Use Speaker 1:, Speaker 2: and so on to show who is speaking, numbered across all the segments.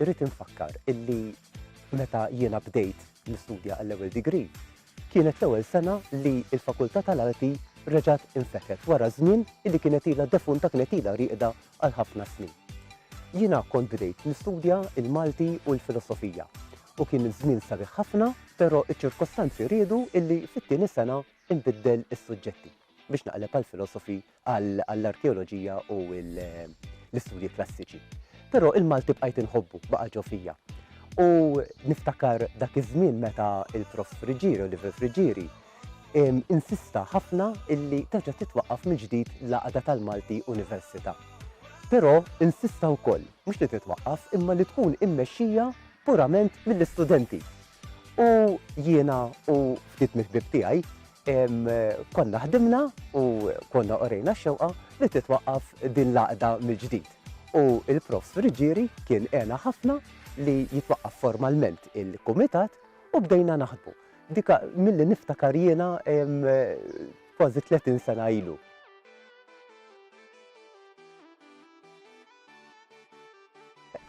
Speaker 1: Irrid infakkar illi meta jiena bdejt nistudja għall-ewwel degree, kienet l-ewwel sena li l-Fakultà tal-Arti reġgħet infetħet wara żmien illi kienet ilha defunta, kienet ilha rieqda għal ħafna snin. Jiena kont bdejt nistudja l-Malti u l-Filosofija u kien żmien sabiħ ħafna, però ċ-ċirkostanzi riedu illi fit-tieni sena nbiddel is-suġġetti. biex naqleb għall-filosofi, għall-arkeoloġija u l-istudji klassiċi. Però il-Malti bqajt inħobbu, baqa' ġo fija. U niftakar dak iż-żmien meta il-prof Friġieri, Oliver Friġieri, insista ħafna illi terġa' titwaqqaf mill-ġdid l-għaqda tal-Malti Università. Però insista wkoll mhux li titwaqqaf imma li tkun immexxija purament mill-istudenti. U jiena u ftit mill-ħbieb tiegħi konna ħdimna u konna orejna x-xewqa li titwaqqaf din l-għaqda mill-ġdid. U l-Profs. Friggieri kien għena ħafna li jitwaqqaf formalment il-kumitat u bdejna naħdmu. Dik milli niftakar jiena kważi 30 sena ilu.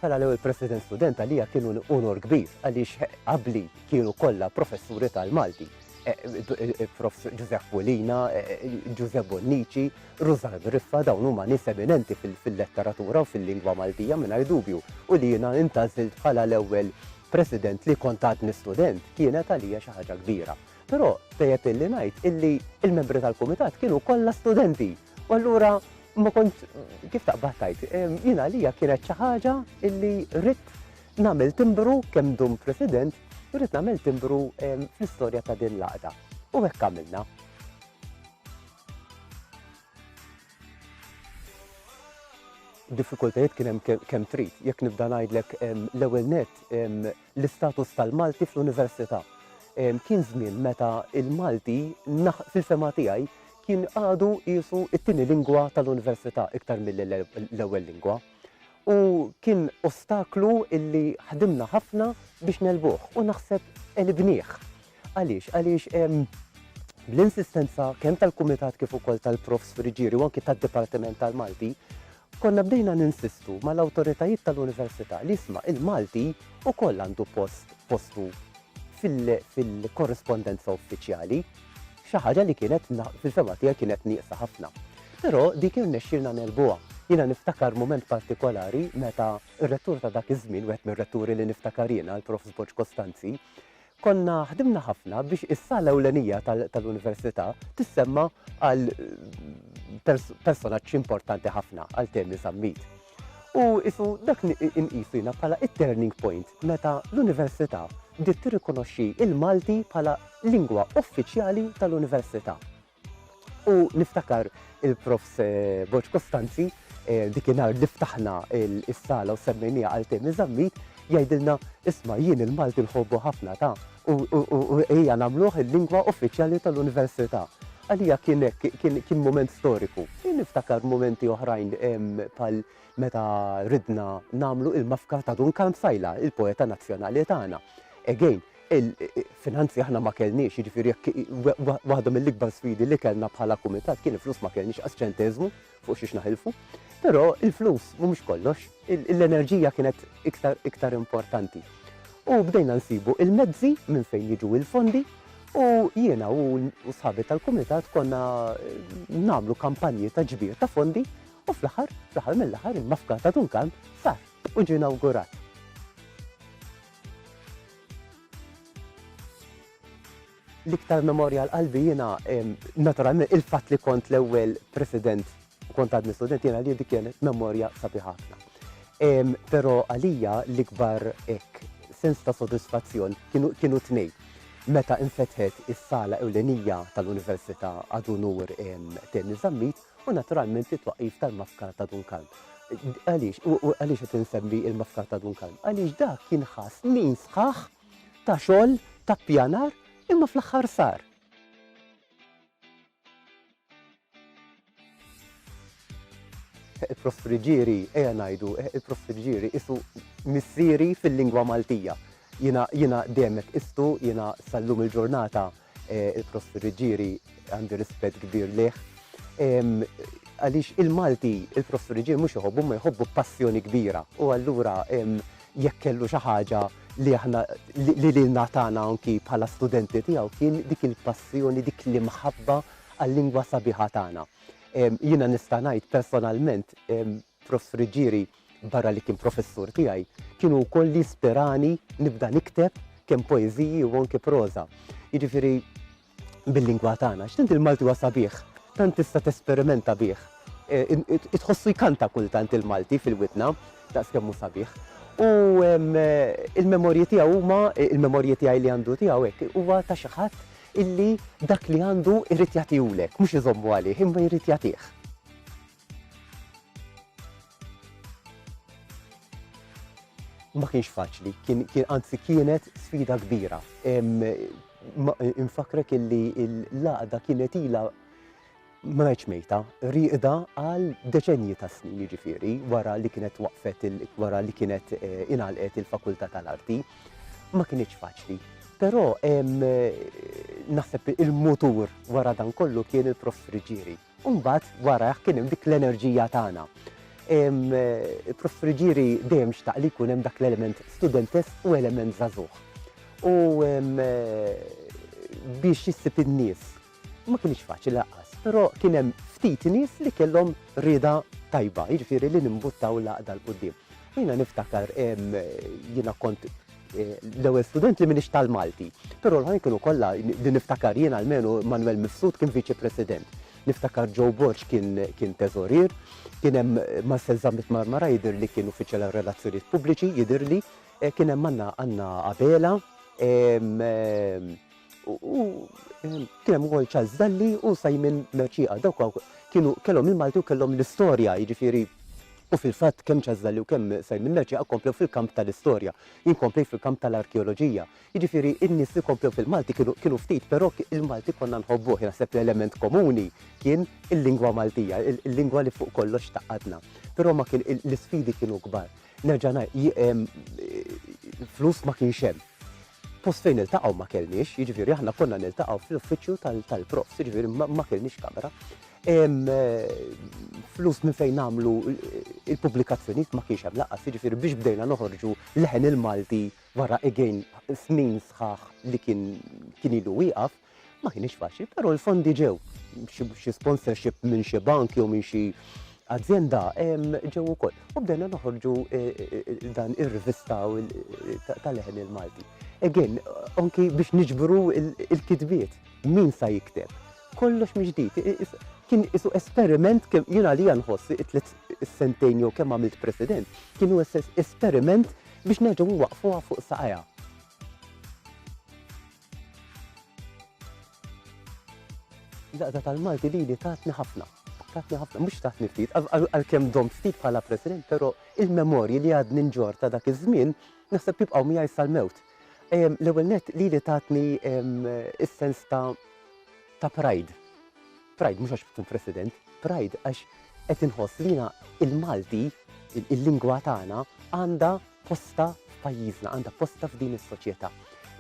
Speaker 1: Bħala l-ewwel President Student għalija kien unur kbir għaliex qabli kienu kollha professuri tal-Malti, Prof. Ġużepp Mulina, Ġużepp Bonnici, Rużann Riffa, dawn huma nies eminenti fil-letteratura u fil-lingwa Maltija mingħajr dubju u li jiena intgħażilt bħala l-ewwel President li kont għadni student kienet għalija xi ħaġa kbira. Però tajjeb illi ngħid illi l-membri tal-Kumitat kienu kollha studenti. U allura ma kont kif taqbad tajt, jien għalija kienet xi ħaġa illi rrid nagħmel timbru kemm dum President, rrid nagħmel timbru fl-istorja ta' din l-għaqda. U hekk għamilna. Diffikultajiet kien hemm kemm trid, jekk nibda ngħidlek l-ewwel net l-istatus tal-Malti fl-Università. Kien żmien meta l-Malti, fil-fehma tiegħi, kien għadu qisu t-tieni lingwa tal-Università iktar milli l-ewwel lingwa. U kien ostaklu illi ħdimna ħafna biex negħlbuh u naħseb għelibnieh. Għaliex? Għaliex bl-insistenza kemm tal-Kumitat kif ukoll tal-Profs Friggieri u anki tad-Dipartiment tal-Malti, konna bdejna ninsistu mal-awtoritajiet tal-Università li isma' il-Malti wkoll għandu post postu fil-korrispondenza uffiċjali, xi ħaġa li kienet fil-fehma tiegħi kienet nieqsa ħafna. Però dik irnexxielna negħlbuha. Jiena niftakar mument partikolari meta r-Rettur ta' dak iż-żmien, wieħed mir-Retturi li niftakar jiena, l-Profs Borg Costanzi, Konna ħdimna ħafna biex is-sala ewlenija tal-Università tissemma għal personaġġ importanti ħafna għal Temi Zammit. U isu dak inqisu jiena bħala it-turning point meta l-Università bdiet tirrikonoxxi il-Malti bħala lingwa uffiċjali tal-Università. U niftakar il-Profs. Borg Costanzi, dik in-nhar li ftaħna is-sala u semmejnieha għal Temi Zammit, jgħidilna, isma' jien il-Malti nħobbu ħafna ta, u ejja nagħmluh il-lingwa uffiċjali tal-Università. Għalija kien hekk, kien mument storiku. Jien niftakar mumenti oħrajn bħal meta ridna nagħmlu il-mafka ta' Dun Kalm Sajla, il-poeta nazzjonali tagħna. Again, Il-finanzi aħna ma kellniex, jiġifieri jekk waħda mill-ikbar sfidi li kellna bħala kumitat kien il-flus ma kellniex qas ċenteżmu fuq xiex naħilfu. Però il-flus mhumiex kollox, l-enerġija kienet iktar importanti. U bdejna nsibu il-mezzi minn fejn jiġu il-fondi u jiena u sħabi tal-kumitat konna nagħmlu kampanji ta' ġbir ta' fondi u fl-aħħar, fl-aħħar mill-aħħar il-mafka ta' Dunkan sar u ġie inawgurat. L-iktar memorja għal qalbi jiena naturalment il-fatt li kont l-ewwel president u kont għadni student jiena li dik kienet memorja sabiħa ħafna. Però għalija l-ikbar hekk sens ta' sodisfazzjon kienu tnejn. Meta infetħet is-sala ewlenija tal-Università Adunur Tenni Zammit u naturalment it-twaqif tal-mafkar ta' Dunkalm. Għaliex, u għaliex qed insemmi il-mafkar ta' Dunkalm? Għaliex dak kien ħass snin sħaħ ta' xogħol ta' pjanar imma fl-aħħar sar. Il-Prof Friġieri, eja ngħidu, il-Prof Friġieri isu missieri fil-lingwa Maltija. Jina demek istu, jina sallum il-ġurnata Il-Professur Ġiri għandu rispett kbir lih. Għaliex il-Malti, il-Professur Ġiri mhux iħobbu, ma jħobbu passjoni kbira. U allura jekk kellu xi ħaġa li aħna li lilna tagħna anki bħala studenti tiegħu kien dik il-passjoni, dik l-imħabba għal-lingwa sabiħa tagħna. Jiena nista' ngħid personalment Prof. Ruggieri, barra li kien professur tiegħi, kien hu wkoll li ispirani nibda nikteb kemm poeżiji u anke proża. Jiġifieri bil-lingwa tagħna, x'tant il-Malti huwa sabiħ, tant tista' tesperimenta bih. Tħossu jkanta kultant il-Malti fil-widna, daqs kemm hu sabiħ. U l-memorji tiegħu huma, il-memorji tiegħi li għandu tiegħu hekk, huwa ta' xi ħadd illi dak li għandu jrid jagħtihulek, mhux iżommu għalih, imma jrid jagħtih. ma kienx faċli, kien anzi kienet sfida kbira. Infakrek illi l-laqda kienet ila ma ngħidx mejta, riqda għal deċenji ta' snin jiġifieri wara li kienet waqfet wara li kienet eh, inalqet il-Fakultà tal-Arti. Ma kienx faċli. Però naħseb il-mutur wara dan kollu kien il-prof Friġieri. U mbagħad warajh kien hemm dik l-enerġija tagħna. Prof. Friggieri dejjem xtaq li jkun hemm dak l-element studentesk u element żagħżugħ. U biex jissib in-nies ma kienx faċli lanqas, però kien hemm ftit nies li kellhom rieda tajba, jiġifieri li nimbuttaw l-għaqda 'l quddiem. Jiena niftakar jiena kont L-ewwel student li minix tal-Malti, però l-oħrajn kienu kollha li niftakar jien almenu Manwel Mifsud kien viċi president. Niftakar Joe Borg kien teżorier, kien hemm Marcel Zammit Marmara jidher li kien uffiċjal għal relazzjonijiet pubbliċi jidhirli, kien hemm Anna Abela, U ehm, kien hemm ukoll Charles Dalli u Simon Merċieqa. Dawk kienu kellhom il-Malti u kellhom l-istorja, jiġifieri U fil-fatt kemm ċażżalli u kemm Simon Merċi akkomplew fil-kamp tal-istorja, jinkompli fil-kamp tal-arkeoloġija. Jiġifieri in-nies li komplew fil-Malti kienu ftit, però il-Malti konna nħobbu, naħseb l-element komuni kien il-lingwa Maltija, il-lingwa li fuq kollox taqadna. Però ma kien l-isfidi kienu kbar. Nerġa' flus ma kienx hemm Post fejn niltaqgħu ma kellniex, jiġifieri aħna konna niltaqgħu fl-uffiċċju tal-profs, jiġifieri ma kellniex kamra. Flus minn fejn nagħmlu il-pubblikazzjonijiet ma kienx hemm laqas, jiġifieri biex bdejna noħorġu leħen il-Malti wara again snin sħaħ li kien ilu wieqaf. Ma kienx faċli, però l-fondi ġew xi sponsorship minn xi bank jew minn xi azienda ġew ukoll. U bdejna noħorġu e, e, e, dan ir-rivista tal-leħen il-Malti. Again, anki biex niġbru il-kitbiet, min sa jikteb. Kollox miġdijt, kien isu esperiment kemm jien għalija nħoss it-tliet sentejn jew kemm għamilt president, kienu esperiment biex neġgħu waqfuha fuq saqajha. Daqda tal-Malti li li tatni ħafna. Tatni ħafna, mux tatni ftit, għal-kem dom ftit bħala president, pero il-memorji li għad ninġor ta' dak iż-żmien, naħseb tibqaw miegħi sal-mewt. L-ewwel net li li tatni is-sens ta' ta' pride. Pride mhux għax tkun President, pride għax qed inħoss li jiena l-Malti, il-lingwa tagħna għandha postha f'pajjiżna, għandha postha f'din is-soċjetà.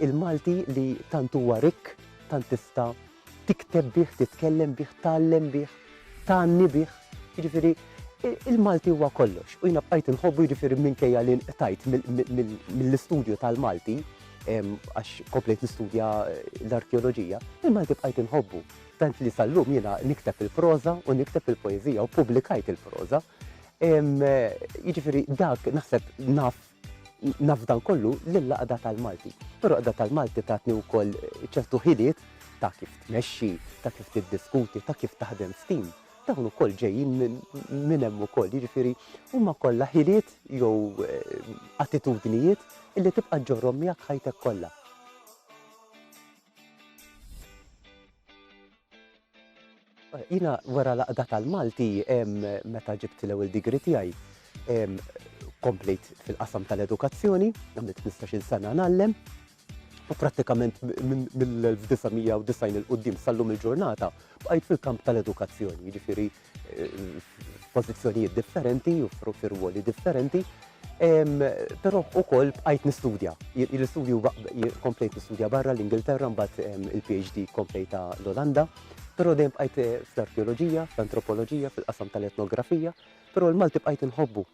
Speaker 1: Il-Malti li tant huwa rikk, tant tista' tikteb bih, titkellem bih, tgħallem bih, tgħanni bih. Jiġifieri il-Malti huwa kollox u jiena bqajt inħobbu jiġifieri minkejja li nqtajt mill-istudju tal-Malti għax komplejt nistudja l-arkeoloġija, il-Malti bqajt inħobbu. Tant li sal-lum jiena nikteb il-proża u nikteb il-poeżija u pubblikajt il-proża. Jiġifieri dak naħseb naf naf dan kollu lill-Għaqda tal-Malti. Però Għaqda tal-Malti tatni wkoll ċertu ħiliet ta' kif tmexxi, ta' kif tiddiskuti, ta' kif taħdem f'tim. Dawn ukoll ġejjin minn hemm ukoll, jiġifieri huma kollha ħiliet jew attitudnijiet li tibqa' ġġorrhom miegħek ħajtek kollha. Jina wara laqda tal-Malti meta ġibt l-ewwel digri tiegħi komplejt fil-qasam tal-edukazzjoni, għamilt 15-il sena ngħallem u prattikament mill-1990 il-qudiem sal-lum il-ġurnata bqajt fil-kamp tal-edukazzjoni, jiġifieri f'pożizzjonijiet differenti u f'irwoli differenti, però wkoll bqajt nistudja. L-istudju komplejt nistudja barra l-Ingilterra mbagħad il-PhD komplejta l-Olanda, però dejjem bqajt fl-arkeoloġija, fl-antropoloġija, fil-qasam tal-etnografija, però l-Malti bqajt inħobbu.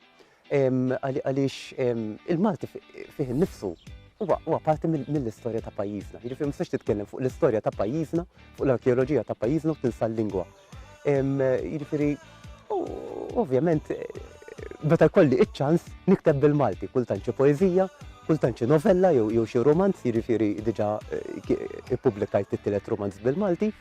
Speaker 1: Għaliex il-Malti fih innifsu huwa parti mill-istorja ta' pajjiżna. Jiġifieri ma tistax titkellem fuq l-istorja ta' pajjiżna, fuq l-arkeoloġija ta' pajjiżna u tinsa l-lingwa. Jiġifieri ovvjament meta jkolli iċ-ċans nikteb bil-Malti, kultant xi poeżija, kultant xi novella jew xi rumanz, jiġifieri diġà ippubblikajt it-tielet rumanz bil-Malti.